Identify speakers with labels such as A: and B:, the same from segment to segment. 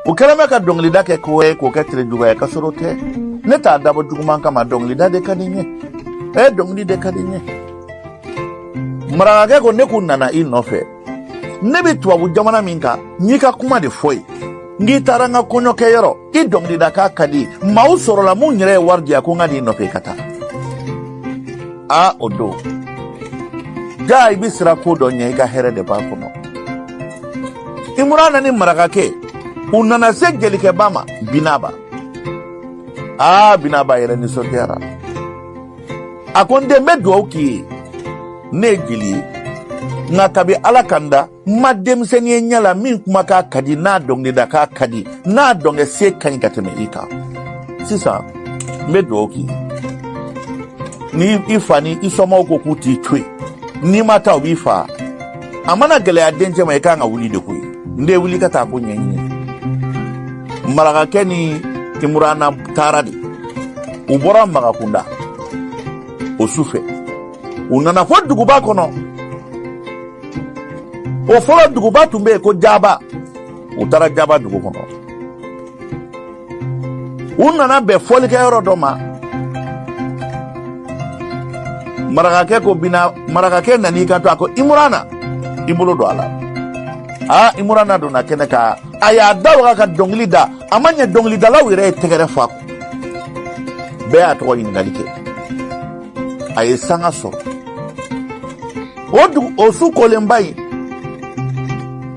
A: u kɛlen bɛ ka dɔnkilida kɛ ko ye k'o kɛ terejuguya ye kasɔrɔ tɛ ne t'a dabɔ juguman kama dɔnkilida de ka di n ye ee dɔnkili de ka di n ye marakakɛ ko ne kun nana i nɔfɛ ne bɛ tubabu jamana min kan n y'i ka kuma de fɔ yen k'i taara n ka kɔɲɔkɛyɔrɔ i dɔnkilidakan ka di maaw sɔrɔla min yɛrɛ ye wari di a ko n ka n'i nɔfɛ i ka taa a o don jaa i bɛ siran ko dɔ ɲɛ i ka hɛrɛ de b'a kɔnɔ imurana ni marakakɛ u nana se jelikɛba ma binaba aa binaba yɛrɛ nisɔndiyara a ko n den n bɛ dugawu k'i ye ne ye jeli ye nka kabi ala ka n da n ma denmisɛnnin ye ɲɛ la min kumakan ka di n'a dɔnkilidakan ka di n'a dɔnkɛsen ka ɲi ka tɛmɛ i kan sisan n bɛ dugawu k'i ye ni i fa ni i somaaw ko k'u t'i to yen n'i ma taa u b'i faa a mana gɛlɛya dencɛ ma i kan ka wuli de koyi n den wuli ka taa ko ɲɛɲini marakakɛ ni imurana taara dɛ u bɔra magakunda o su fɛ u nana fɔ duguba kɔnɔ o fɔlɔ duguba tun bɛ yen ko jaba u taara jaba dugu kɔnɔ u nana bɛn fɔlikɛyɔrɔ dɔ ma marakakɛ ko bina marakakɛ nan'i kanto a ko imurana i bolo don a la aa imurana donna kɛnɛ kan a y'a da waga ka dɔnkili da a ma ɲɛ dɔnkilidalaw yɛrɛ ye tɛgɛrɛ fɔ bɛɛ y'a tɔgɔ ɲininkali kɛ a ye sanga sɔrɔ o su kolenba in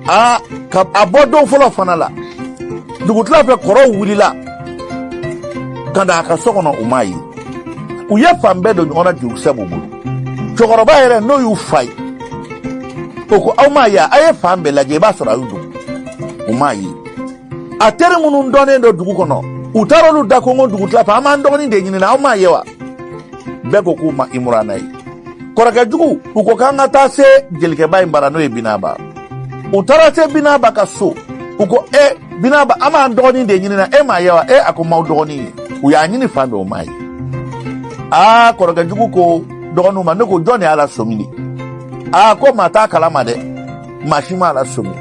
A: a ka a bɔ don fɔlɔ fana la dugutila fɛ kɔrɔw wulila ka na a ka so kɔnɔ u m'a ye u ye fan bɛɛ don ɲɔgɔn na jurukisɛ b'u bolo cɛkɔrɔba yɛrɛ n'o y'u fa ye o ko aw m'a ye a ye fan bɛɛ lajɛ i b'a sɔrɔ a y'i dogo u m'a ye a teri minnu dɔnnen don dugu kɔnɔ u taara olu da konkon dugutila fɛ an b'an dɔgɔnin de ɲinina aw m'a ye wa bɛɛ ko k'u ma imurana ye kɔrɔkɛ jugu u ko k'an ka taa se jelikɛba in bara n'o ye binaba u taara se binaba ka so u ko e eh, binaba an b'an dɔgɔnin de ɲinina e m'a ye wa e eh, a ko n m'aw dɔgɔnin ye u y'a ɲini fan bɛɛ u m'a ye aa kɔrɔkɛ jugu ko dɔgɔninw ma ne ko jɔn de y'a lasɔmi de aa ko maa t'a kalama dɛ maa si m'a lasɔmi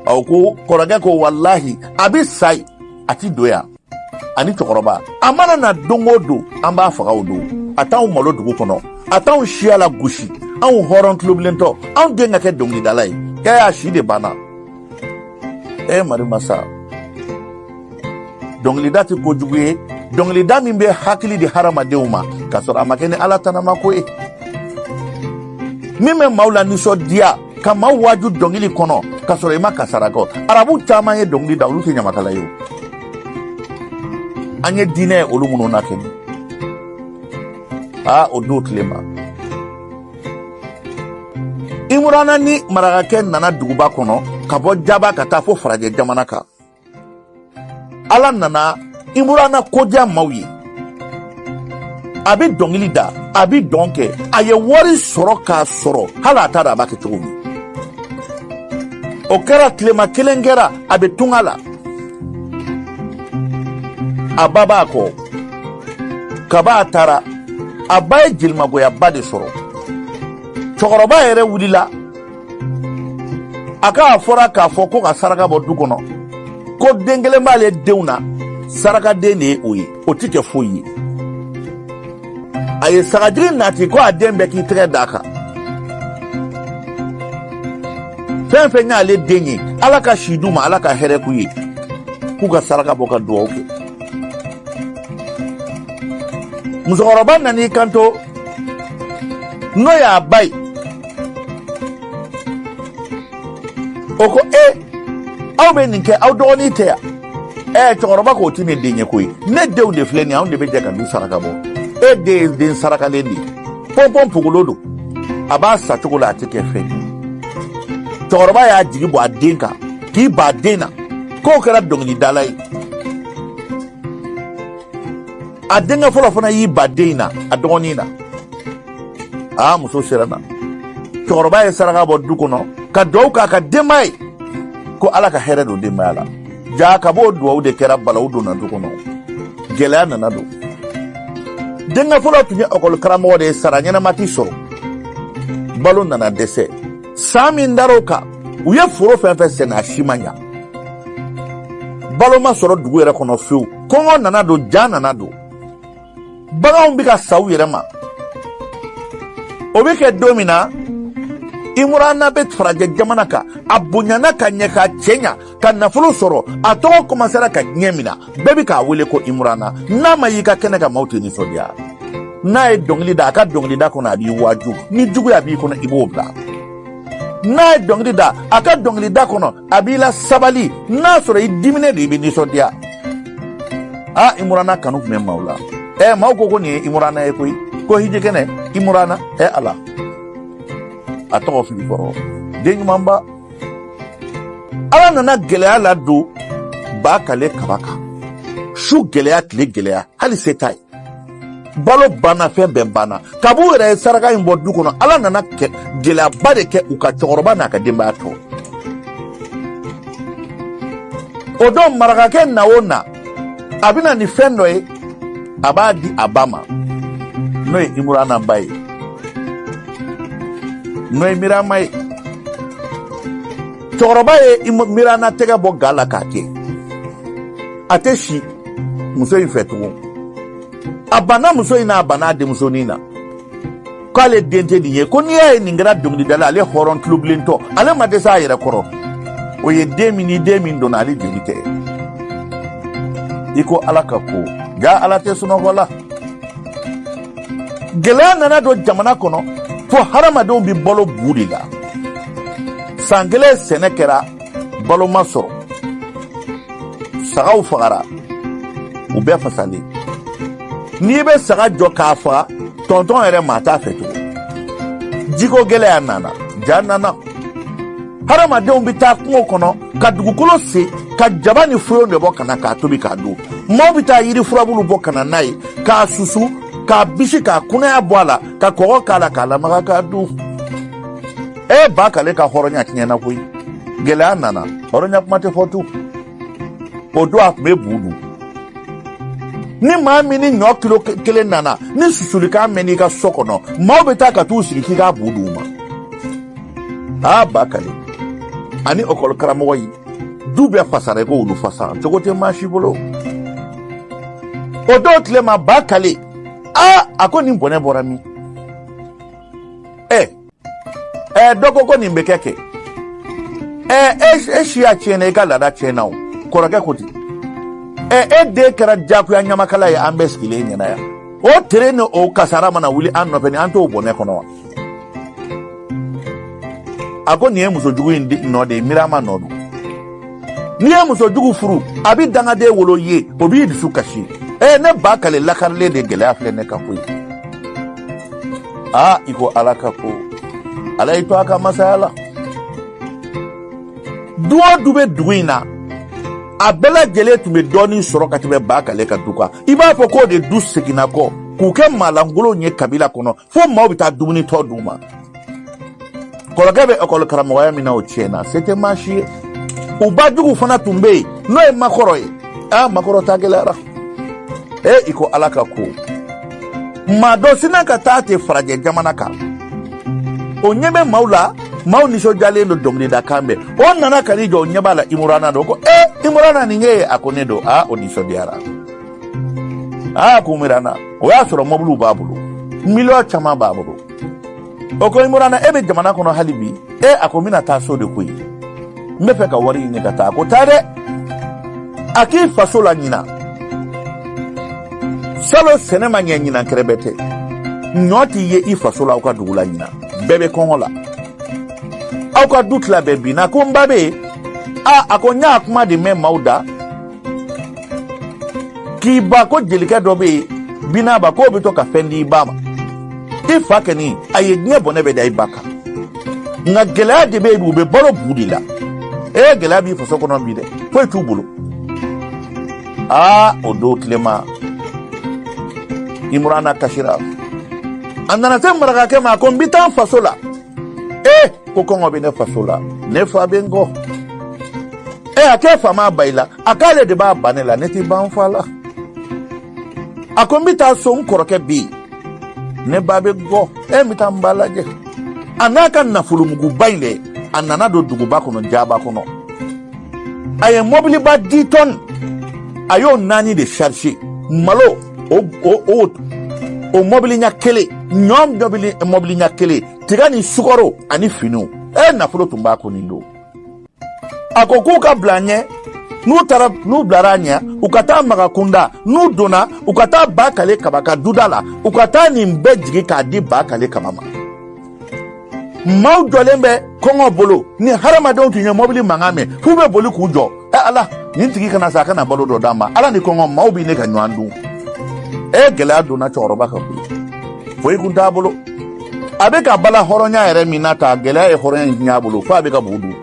A: a ko kɔrɔkɛ ko walahi a bɛ sa ye a ti don yan ani cɛkɔrɔba a mana na don o don an b'a faga o don a t'anw malo dugu kɔnɔ a t'anw siya lagosi anw hɔrɔn tulobilentɔ anw den ka kɛ dɔnkilidala ye kɛ y'a si de banna e mari masa dɔnkilida tɛ kojugu ye dɔnkilida min bɛ hakili di hadamadenw ma k'a sɔrɔ a ma kɛ ni ala tanama ko ye min bɛ maaw lanisɔndiya ka maa waaju dɔnkili kɔnɔ k'a sɔrɔ i ma kɛ sara kɔ arabu caman ye dɔnkili da olu tɛ ɲamakala ye an ye diinɛ olu minnu na kɛnɛ aa o don tile ma imurana ni marakakɛ nana duguba kɔnɔ ka bɔ jaba ka taa fo farajɛ jamana kan ala nana imurana ko diya maaw ye a bɛ dɔnkili da a bɛ dɔn kɛ a ye wari sɔrɔ k'a sɔrɔ hali a t'a dɔn a b'a kɛ cogo min o kɛra tilema kelen kɛra a bɛ tunga la a ba b'a kɔ kaba a taara a ba ye jelimagoyaba de sɔrɔ cɛkɔrɔba yɛrɛ wulila a k'a fɔra k'a fɔ ko ka saraka bɔ du kɔnɔ ko den kelen b'ale denw na sarakaden de ye o ye o tɛ kɛ foyi ye a ye sagajigi nati ko a den bɛɛ k'i tɛgɛ d'a kan fɛn fɛn y'ale den ye ala ka si d'u ma ala ka hɛrɛ k'u ye k'u ka saraka bɔ ka duwawu kɛ musokɔrɔba nan'i kanto n'o y'a ba ye o ko e aw bɛ nin kɛ aw dɔgɔnin tɛ yan ɛ cɛkɔrɔba k'o tɛ ne den ye koyi ne denw de filɛ nin ye anw de bɛ jɛ ka du saraka bɔ e den ye den sarakalen de ye pɔnpɔnpogolo don a b'a sa cogo la a tɛ kɛ fɛn ye cɛkɔrɔba y'a jigi bɔ a den kan k'i ba den na k'o kɛra dɔnkilidala ye a denkɛ fɔlɔ fana y'i ba den in na a dɔgɔnin na aa muso siranna cɛkɔrɔba ye saraka bɔ du kɔnɔ ka duwawu k'a ka denbaya ye ko ala ka hɛrɛ don denbaya la jaa kab'o duwawu de kɛra balawu donna du kɔnɔ gɛlɛya nana don denkɛ fɔlɔ tun ye lakɔli karamɔgɔ de ye sara ɲɛnama tɛ sɔrɔ balo nana dɛsɛ san min dar'o kan u ye foro fɛn fɛn sɛnɛ a si ma ɲa balo ma sɔrɔ dugu yɛrɛ kɔnɔ fewu kɔngɔ nana don ja nana don baganw bɛ ka sa u yɛrɛ ma o bɛ kɛ don min na imurana bɛ farajɛ jamana kan a bonyana ka ɲɛ ka cɛɲa ka nafolo sɔrɔ a tɔgɔ kɔmasera ka diɲɛ mina bɛɛ bɛ k'a wele ko imurana n'a ma y'i ka kɛnɛ kan maaw tɛ nisɔndiya n'a ye dɔnkili da a ka dɔnkilida kɔnɔ a b'i waaju ni juguya b'i kɔnɔ i b'o bila n'a ye dɔnkili da a ka dɔnkilida kɔnɔ a b'i lasabali n'a sɔrɔ i diminen don i bɛ nisɔndiya a imurana kanu tun bɛ maaw la ɛ maaw ko ko nin ye imurana ye koyi ko hijikɛnɛ imurana ɛ ala a tɔgɔ fili kɔrɔ den ɲumanba ala nana gɛlɛya ladon bakale kaba kan su gɛlɛya tile gɛlɛya hali se t'a ye balo banna fɛn bɛɛ banna kab'u yɛrɛ ye saraka in bɔ du kɔnɔ ala nana gɛlɛyaba de kɛ u ka cɛkɔrɔba n'a ka denbaya tɔ o don marakakɛ na o na a bɛna ni fɛn dɔ ye a b'a di a ba ma n'o ye imurana ba ye n'o ye mirama ye cɛkɔrɔba ye mirama tɛgɛ bɔ ga la k'a kɛ a tɛ si muso in fɛ tugun a banna muso in na a banna a denmusonin na k'ale den tɛ nin ye ko n'i y'a ye nin kɛra dɔnkilidala ale hɔrɔn tulobilentɔ ale ma dɛsɛ a yɛrɛ kɔrɔ o ye den min ni den min donna ale joli tɛ i ko ala ka ko jaa ala tɛ sunɔgɔ la gɛlɛya nana don jamana kɔnɔ fo hadamadenw bɛ balo bu de la san kelen sɛnɛ kɛra balo ma sɔrɔ sagaw fagara u bɛɛ fasalen n'i bɛ saga jɔ k'a faga tɔntɔn yɛrɛ maa t'a fɛ tugun jiko gɛlɛya nana ja nana hadamadenw bɛ taa kungo kɔnɔ ka dugukolo sen ka jaba ni foyon de bɔ ka na k'a tobi k'a dun maaw bɛ taa yiri furabulu bɔ ka na n'a ye k'a susu k'a bisi k'a kunaya bɔ a la ka kɔgɔ k'a la k'a lamaga k'a dun e bakale ka hɔrɔnya tiɲɛna koyi gɛlɛya nana hɔrɔnya kuma tɛ fɔ tu o don a tun bɛ bu dun ni maa min ni ɲɔ kilo kelen nana ni susulikan mɛnn'i ka so kɔnɔ maaw bɛ taa ka t'u sigi k'i k'a bu d'u ma aa bakale ani ɔkɔli karamɔgɔ yi du bɛɛ fasara i ko wulu fasa cogo tɛ maa si bolo o don tile ma bakale aa a ko nin bɔnɛ bɔra min ɛ dɔ ko ko nin bɛ kɛ kɛ ɛ e siya tiɲɛna i ka laada tiɲɛna o kɔrɔkɛ ko ten ɛ e den kɛra diyagoya ɲamakala ye an bɛɛ sigilen ɲɛna yan o tere ni o kasara mana wuli an nɔfɛ ni an t'o bɔnɛ kɔnɔ wa a ko nin ye muso jugu in nɔ de ye mirama nɔ don n'i ye muso jugu furu a bɛ dangaden wolo i ye o b'i dusu kasi ee ne bakale lakarilen de gɛlɛya filɛ ne kan koyi aa i ko ala ka ko ala y'i to a ka masaya la du o du bɛ dugu in na a bɛɛ lajɛlen tun bɛ dɔɔnin sɔrɔ ka tɛmɛ bakale ka du kan i b'a fɔ k'o de du seginna kɔ k'u kɛ maalankolonw ye kabila kɔnɔ fo maaw bɛ taa dumuni tɔ d'u ma kɔrɔkɛ bɛ ekɔli karamɔgɔya min na o tiɲɛna se tɛ maa si ye u ba jugu fana tun bɛ yen n'o ye makɔrɔ ye aa makɔrɔ ta gɛlɛyara ee i ko ala ka ko maa dɔ sinna ka taa ten farajɛ jamana kan o ɲɛ bɛ maaw la maaw nisɔndiyalen don dɔnkilidakan bɛ o nana ka n'i jɔ o ɲɛ b'a la imurana don ko ee imurana nin ye a ko ne don aa o nisɔndiyara aa ko mirana o y'a sɔrɔ mɔbiliw b'a bolo miliyɔn caman b'a bolo o ko imurana e bɛ jamana kɔnɔ hali bi e a ko n bɛna taa so de koyi n bɛ fɛ ka wari ɲini ka taa a ko taa dɛ a k'i faso la ɲinan salo sɛnɛ ma ɲɛ ɲinan kɛrɛbɛtɛ ɲɔ tɛ ye i faso la aw ka dugu la ɲinan bɛɛ bɛ kɔngɔ la aw ka du tila bɛɛ binna ko n ba bɛ yen a a ko n y'a kuma de mɛn maaw da k'i ba ko jelikɛ dɔ bɛ yen binaba k'o bɛ to ka fɛn di i ba ma i fa kɛni a ye diɲɛ bɔnɛ bɛɛ da i ba kan nka gɛlɛya de bɛ yen u bɛ balo bu de la ee gɛlɛya b'i faso kɔnɔ bi dɛ foyi t'u bolo aa o don tilema imurana kasira a nana se marakakɛ ma ko n bɛ taa n faso la ee ko kɔngɔ bɛ ne faso la ne fa bɛ n kɔ ɛ a k'e fa ma ban i la a k'ale de b'a ban ne la ne tɛ ban n fa la a ko n bɛ taa so n kɔrɔkɛ bɛ yen ne ba bɛ n kɔ n bɛ taa n ba lajɛ a n'a ka nafolomuguba in dɛ a nana don duguba kɔnɔ jaba kɔnɔ a ye mɔbiliba dix tonnes a y'o naani de sarisi malo o o o o mɔbili ɲɛ kelen ɲɔ mɔbili ɲɛ kelen tiga ni sukaro ani finiw e nafolo tun b'a kun nin don a ko k'u ka bila ɲɛ n'u taara n'u bilara ɲɛ u ka taa maga kunda n'u donna u ka taa ba kale kaba ka duda la u ka taa nin bɛɛ jigi k'a di ba kale kaba ma maaw jɔlen bɛ kɔngɔ bolo ni hadamadenw tun ye mɔbili mankan mɛn f'u bɛ boli k'u jɔ ɛ ala nin tigi kana sa a ka na balo dɔ d'an ma ala ni kɔngɔ maaw bɛ ɲini ka ɲɔgɔn dun e gɛlɛya donna cɛkɔrɔba kan koyi foyi kun t'a bolo a bɛ ka bala hɔrɔnya yɛrɛ min na ta gɛlɛya ye hɔrɔnya in ɲɛ bolo fo a bɛ ka bu dun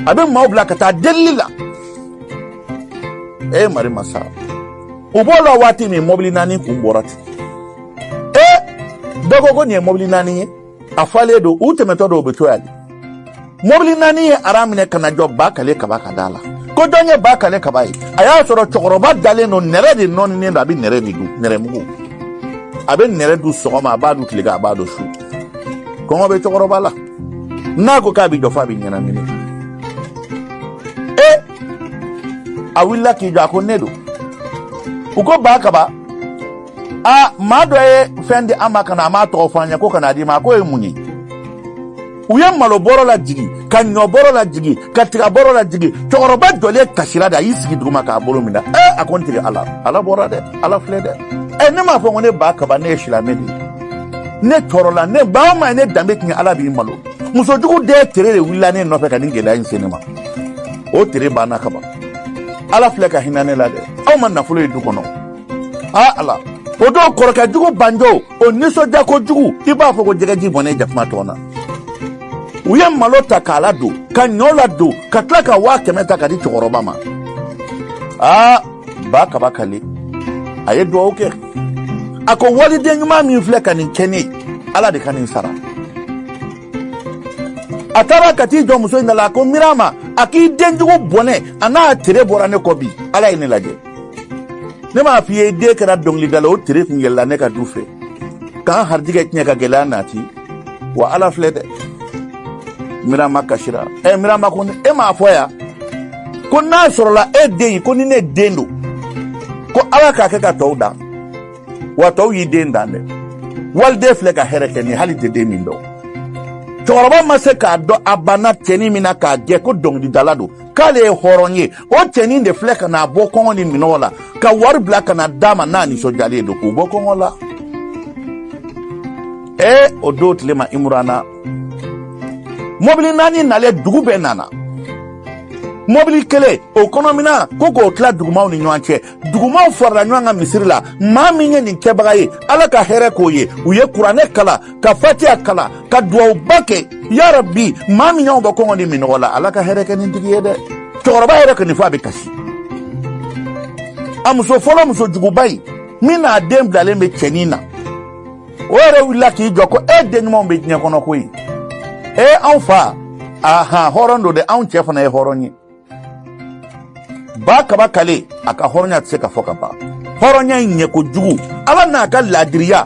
A: a bɛ maaw bila ka taa delili la e mari masa u b'o la waati min mɔbili naani kun bɔra ten e dɔ ko ko nin ye mɔbili naani ye a falen don u tɛmɛtɔ dɔw bɛ to yan mobili naani ye ara minɛ ka na jɔ ba kale kaba ka da la ko jɔn ye ba kale kaba ye a y'a sɔrɔ cɛkɔrɔba dalen don nɛrɛ de nɔninen don a bɛ nɛrɛ de dun nɛrɛmugu a bɛ nɛrɛ dun sɔgɔma a b'a dun tilegan a b'a dun su kɔngɔ bɛ cɛkɔrɔba la n'a ko k'a bɛ jɔ f'a bɛ ɲɛnamini e a wulila k'i jɔ a ko ne don u ko ba kaba a maa dɔ ye fɛn di an ma ka na a m'a tɔgɔ fɔ an ɲɛ ko ka n'a d'i ma a k'o ye mun ye u ye malo bɔrɔ lajigin ka ɲɔ bɔrɔ lajigin ka tiga bɔrɔ lajigin cɛkɔrɔba jɔlen kasira de a y'i sigi duguma k'a bolo minɛ ɛ a ko n tigi ala ala bɔra dɛ ala filɛ dɛ ɛ ne m'a fɔ ko ne ba kaba ne ye silamɛ de ye ne tɔɔrɔla ni maa min ye ne danbe tiɲɛ ala b'i malo muso jugu den tere de wulila ne nɔfɛ ka nin gɛlɛya in se ne ma o tere banna kaban ala filɛ ka hinɛ ne la dɛ aw ma nafolo ye du kɔnɔ aa ala o don kɔrɔkɛ jugu banjo o nisɔndiya kojugu i b'a fɔ ko jɛgɛji bɔnnen jakuma tɔn na u ye malo ta k'a ladon ka ɲɔ ladon ka tila ka waa kɛmɛ ta k'a di cɛkɔrɔba ma aa ba kaba kale a ye duwawu kɛ a ko waliden ɲuman min filɛ ka nin kɛ ne ala de ka nin sara a taara ka t'i jɔ muso in da la a ko mirama a k'i den jugu bɔnɛ a n'a tere bɔra ne kɔ bi ala ye ne lajɛ ne m'a f'i ye den kɛra dɔnkilidala o tere kun yɛlɛla ne ka du fɛ k'an harijigɛ tiɲɛ ka gɛlɛya nati wa ala filɛ dɛ mirama kasira ɛ eh mirama ko e m'a fɔ yan ko n'a sɔrɔla e den ye ko ni ne den don ko ala k'a kɛ ka tɔw dan wa tɔw y'i den dan dɛ waliden filɛ ka hɛrɛ kɛ ni hali tɛ den min don cɛkɔrɔba ma se k'a dɔn a banna cɛnin min na k'a gɛn ko dɔnkilidala don k'ale ye hɔrɔn ye o cɛnin de filɛ ka n'a bɔ kɔngɔ ni minɔgɔ la ka wari bila ka na d'a ma n'a nisɔndiyalen don k'u bɔ kɔngɔ la ee o don tile ma imurana mɔbili naani nalen dugu bɛɛ nana mɔbili kelen o kɔnɔmina ko k'o tila dugumaw ni ɲɔgɔn cɛ dugumaw farala ɲɔgɔn kan misiri la maa min ye nin kɛbaga ye ala ka hɛrɛ k'o ye u ye kuranɛ kalan ka fatiya kalan ka duwawuba kɛ ya rabi maa min y'anw bɔ kɔngɔ ni minɔgɔ la ala ka hɛrɛ kɛ nin tigi ye dɛ cɛkɔrɔba yɛrɛ kɔni fɔ a bɛ kasi a muso fɔlɔ muso juguba in min n'a den bilalen bɛ cɛnin na o yɛrɛ wulila k'i jɔ ko e den ɲumanw bɛ diɲɛ kɔnɔ koyi e anw fa ahan hɔrɔn don dɛ anw cɛ fana ye hɔrɔn ye ba kaba kale a ka hɔrɔnya tɛ se ka fɔ ka ban hɔrɔnya in ɲɛ kojugu ala n'a ka laadiriya